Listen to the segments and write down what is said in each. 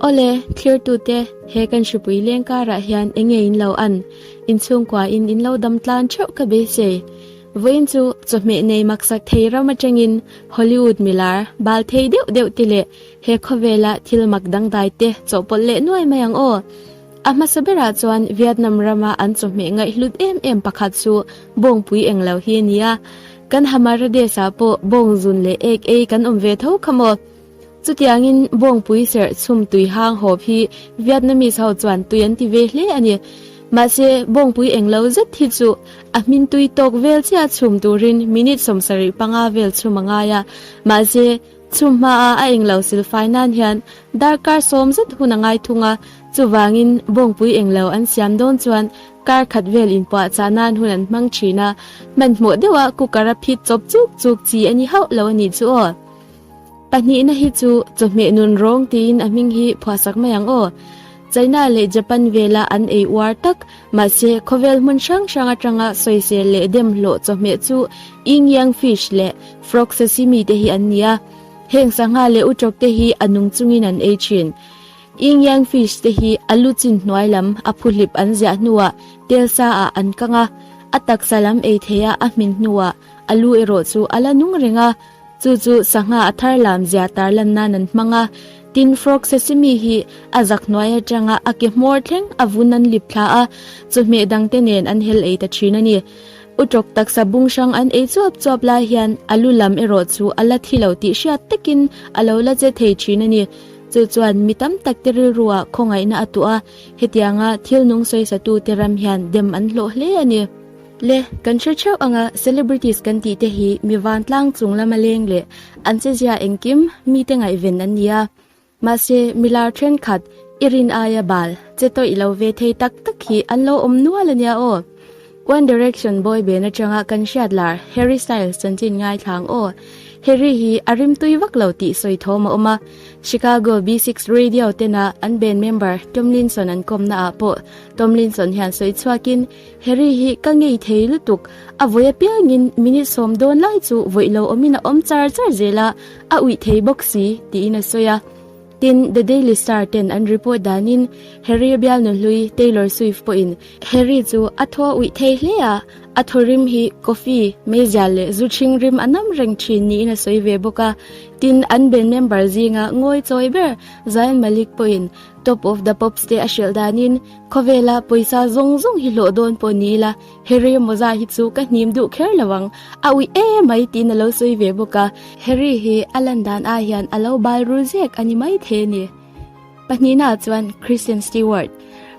Awle, thlirtute, he kan hripui leng karah hian enge in lo an? Inchhungkuain in lo dam tlan theuh ka be che. Vawiin chu chawhmeh nei maksak thei ram atangin Hollywood milar, bal thei deuh deuh te leh he khawvela thil mak dangdai te chawhpawlh leh nuai mai ang aw. A hmasa berah chuan Vietnam rama an chawhmeh ngaihhlut em em pakhat chu bawngpui eng lo hi a nia. Kan Hammaradesh-a pawh bawng zun leh ek ei kan awm ve tho kha maw? Chutiangin Bawngpui serh chhum tui hang hawp hi Vietnamese ho chuan tui an ti ve hle a ni. Mahse, Bawngpui englo zet hi chu a hmin tui tawk vel chiah chhum turin minute sawm sarih panga vel chhum a ngai a. Mahse, chhum hmaa a englo silfai nan hian darkar sawm zet hun a ngai thung a, chuvangin Bawngpui englo an siam dawn chuan kar khat vel inpuah chah nan hun an hmang thin a. Hmanhmawh deuha cooker a phit chawp chuk chuk chi a ni hauh lo a nih chu aw. Pahnihna hi chu chawhmeh nun rawng tiin a hming hi phuahsak mai ang aw. China leh Japan vela an ei uar tak, mahse khawvel hmun hrang hrang atanga sawi ser leh dem hlawh chawhmeh chu Ying Yang Fish leh Frog Sashimi te hi an ni a. Heng sangha leh utok te hi a nung chungin an ei thin. Ying Yang Fish te hi a lu chin hnuai lam a phuhlip an ziah hnuah tel sa ah an kang a. A taksa lam ei theih a a hmin hnuah a lu erawh chu a la nung reng a. Chu chu sangha a thar lam zia tarlan nan an hmang a, tin frog sesame hi a zak hnuai atanga a ke hmawr thleng a vun an lip thla a, chawhmeh dangte nen an hel ei ta thin a ni. U tawk taksa bung hrang an ei chuap chuap lai hian a lu lam erawh chu a la thi lo tih hriat takin a lo la che thei thin a ni. Chu chuan mi tam takte rilruah khawngaihna a tuah a, hetianga thil nung sawisatute ram hian dem an hlawh hle a ni. Le, kan hre theuh anga celebrities kan tih te hi mi vantlang chung lama leng leh an che zia engkim mi te ngaihven an nia. Mahse, mi lar thenkhat i rin aia bal che tawih lo ve thei tak tak hi an lo awm nual ania aw. One Direction boyband atanga kan hriat lar Harry Styles chanchin ngaithlang aw. Harry hi a rim tui vak lo tih sawi thawm a awm a. Chicago B six Radio tenah an band member Tomlinson an kawmnaah pawh Tomlinson hian sawi chhuakin Harry hi ka ngei thei lutuk. A vawi apiangin minute sawm dawn lai chu vawi lo awmin a awm char char zel a, a uih thei bawk si, tiin a sawi a. Tin, The Daily Star ten an report danin Harry a bialnu hlui Taylor Swift pawhin Harry chu a thaw a uih thei hle a, a thaw rim hi coffee, meizial leh zu chhing rim a nam reng thin niin a sawi ve bawk a. Tin, an band member zinga ngawi chawi ber Zayn Malik pawhin Top of the Pops te a hrilh danin, Khawvela pawisa zawng zawng hi hlawh dawn pawh ni ila, he remo zah hi chu ka hnim duh kher lo ang, a ui e mai tiin a lo sawi ve bawk a. Harry hi a lan dan ah hian a lo bal rul zek a ni maithei ni. Pahnihin ah chuan Kristen Stewart,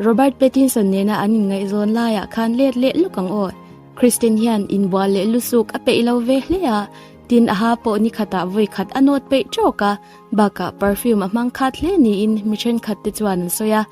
Robert Pattinson nena an inngaihzawn lai ah khan let leh lawk ang aw. Kristen hian inbual leh lusuk a peih lo ve hle a, tin aha pawh nikhat ah vawikhat a nawt peih trawk a. Bakah perfume a hmang khat hle niin mi thenkhat te chuan an sawi a,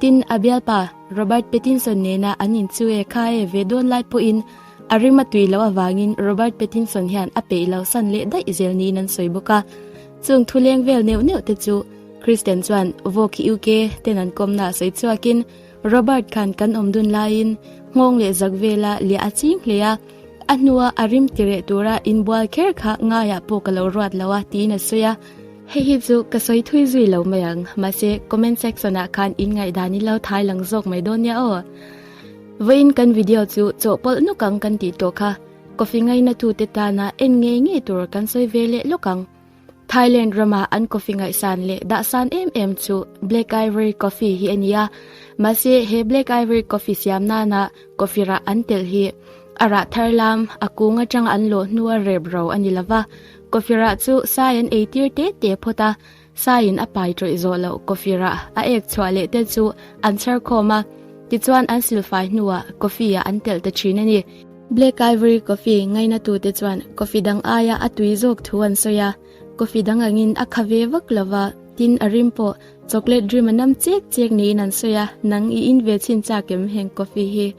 tin a bialpa Robert Pattinson nena an inchu e kha e ve dawn lai pawhin a rima tui loh avangin Robert Pattinson hian a peih lo san leh daih zel niin an sawi bawk a. Chung thuleng vel neuh neuh te chu Kristen chuan Vogue UK ten an kawmna a sawi chhuakin, Robert khan kan awm dun laiin nghawng leh zak vela liah a ching hle a, a hnua a rim ti reh tura in bual kher kha ngaiah pawh ka lo ruat lo a tiin a sawi a. Hei hi chu ka sawi thui zui lo mai ang, mahse comment section ah khan in ngaihdan in lo thai lang zawk mai dawn nia aw. Vawiin kan video chu chawh pawlh nawk ang kan tih tawh kha, coffee ngaina tute tana en ngei ngei tur kan sawi ve leh lawk ang. Thailand ramah an coffee ngaihsan leh dahsan em em chu Black Ivory Coffee hi a ni a. Mahse he Black Ivory Coffee siam nana coffee rah an tel hi a rah thar lam a kung atanga an lawh hnu a rep ro a ni lova. Coffee rah chu sai an ei tir te te phawt a, saiin a pai tawih zawh loh coffee rah a ek chhuah leh te chu an chher khawm a, tichuan an silfai hnuah coffee-a an tel ta thin a ni. Black Ivory Coffee ngaina tute chuan coffee dang aia a tui zawk thu an sawi a, coffee dang angin a kha ve vak lo va, tin a rim pawh chocolate dream a nam chek chek niin an sawi a, nang i in ve chhin chak em heng coffee hi.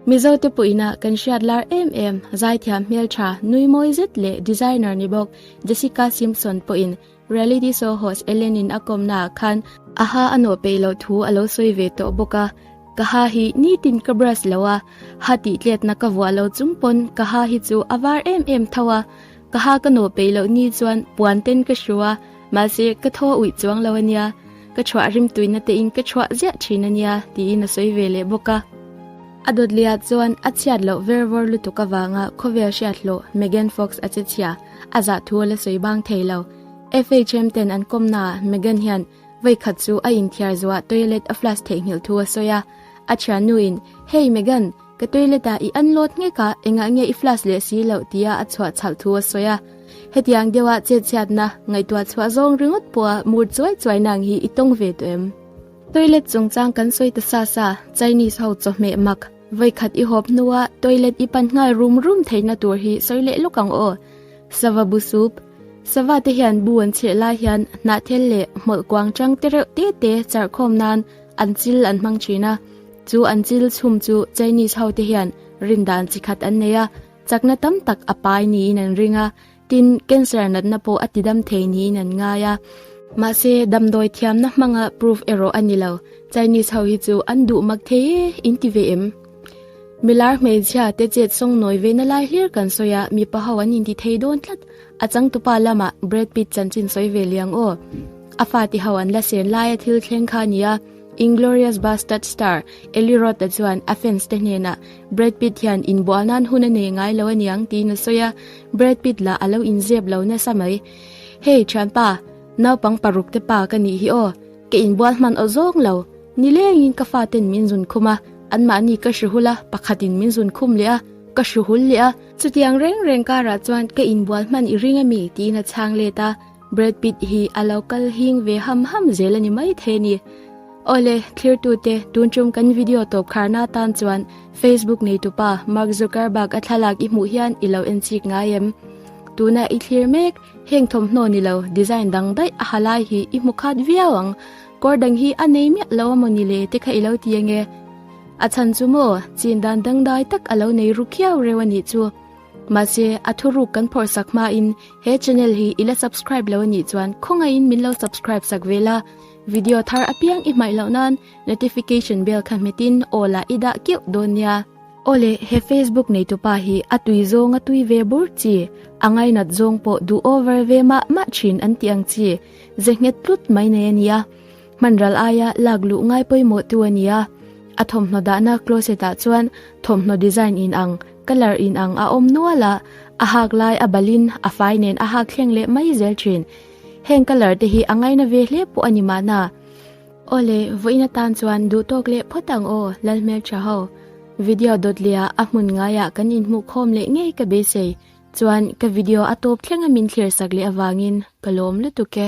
Mizo te pawhina kan hriat lar em em, zaithiam hmeltha nui mawi zet leh designer ni bawk Jessica Simpson pawhin, Reality show host Ellen-in a kawmnaah khan aha a nawh peih loh thu a lo sawi ve tawh bawk a, Ka ha hi nitin ka brush lo a, ha tihtletna ka vuah lo chung pawn ka ha hi chu a var em em tho a, ka ha ka nawh peih loh ni chuan puan ten ka hru a, mahse ka thaw uih chuang lo a nia, ka chhuah rim tuihna te in ka chhuah ziah thin a nia, tiin a sawi ve leh bawk a. A dawt leh ah chuan a chhiat loh vervawr lutuk avanga khawvel hriathlawh Megan Fox a che chhia. a zah thu a la sawi bang thei lo. FHM ten an kawm na ah Meghan hian veikhat chu a inthiar zo ah toilet a flush theih nghilh thu a sawi a. A thiannu in, Hey Meghan, ka toilet ah i an lawt nghek a, engah nge i flush leh si lo tia a chhuah chhalh thu a sawi a. Hetiang deuh ah chetchhiat na, ngaihtuah chhuah zawng ringawt pawh a mur chuai chuai na ang hi i tawng ve tawh em? Toilet chungchang kan sawi ta sa sa, Chinese ho chawhmeh mak. Vawikhat i hawp hnua toilet i pan nghal rum rum theihna tur hi sawi leh lawk ang aw. Sava bu sup. Sava te hian bu an chhirh lai hian hnah thel leh hmawlh kuang chang te reuh te te char khawm nan an chil an hmang thin a. Chu an chil chhum chu Chinese ho te hian rindan chi khat an nei a, chakna tam tak a pai niin an ring a. Tin, cancer natna pawh a tidam thei niin an ngai a. Mahse, damdawi thiamna hmanga proof erawh a ni lo. Chinese ho hi chu an duh mak thei e, in ti ve em? Mi lar hmeichhia te chet sawng nawi ve na lai hlir kan sawi a, mipa ho an inti thei dawn tlat. A changtupa lama Brad Pitt chanchin sawi ve liang aw. A fate ho an la sen laia thil thleng kha a ni a. Inglourious Bastard star Eli Roth-a chuan a fans te hnenah, Brad Pitt hian inbual nan hun a nei ngai lo a niang tiin a sawi a, Brad Pitt lah a lo inziap lo nasa mai. Hey thianpa, naupang paruk te pa ka nih hi aw, ka inbual hman aw zawng lo, nilengin ka faten min zun khum a, anmahni ka hre hul a, pakhatin min zun khum leh a, ka hru hul leh a. Chutiang reng reng karah chuan ka inbual hman i ring a mi tiin a chhang let a. Brad Pitt hi a lo kal hing ve ham ham zel a ni maithei ni. Awle, thlirtute, tun tum kan video tawp kharna atan chuan Facebook neitupa Mark Zuckerberg a thlalak i hmuh hian i lo enchik ngai em? Tuna i thlir mek, heng thawmhnaw ni lo, design dangdaih a ha lai hi i hmu khat viau ang. Kawr dang hi a nei miah lo a maw ni le te kha i lo ti ange? A chhan chu maw, chin dan dangdai tak a lo nei ru khiau reuh a nih chu. Mahse, a thu ruk kan phawrh sak hma in he channel hi i la subscribe lo a nih chuan khawngaih in min lo subscribe sak ve la. Video thar apiang i hmaih loh nan notification bell kha hmet in all ah i dah keuh dawn nia. Aw le, he Facebook neitu pa hi a tui zawng a tui ve bur chi, a ngainat zawng pawh duh over ve mah mah thin an tih ang chi, ze nghet tlut mai nei a nia. Hmanral aia lak luh ngai pawimawh tu a ni a, a thawmhnaw dahna closet ah chuan thawmhnaw design in ang, colour in ang a awm nual a, a hak lai a balin a fai nen a hak thleng leh mai zel thin. Heng colour te hi a ngaina ve hle pawh a ni mahna. Aw le, vawiin atan chuan duh tawk leh phawt ang aw, lal hmel tha ho. Video dawt leh ah a hmun ngai ah kan inhmuh khawm leh ngei ka beisei, chuan ka video a tawp thlenga min thlir sak leh avangin ka lawm lutuk e.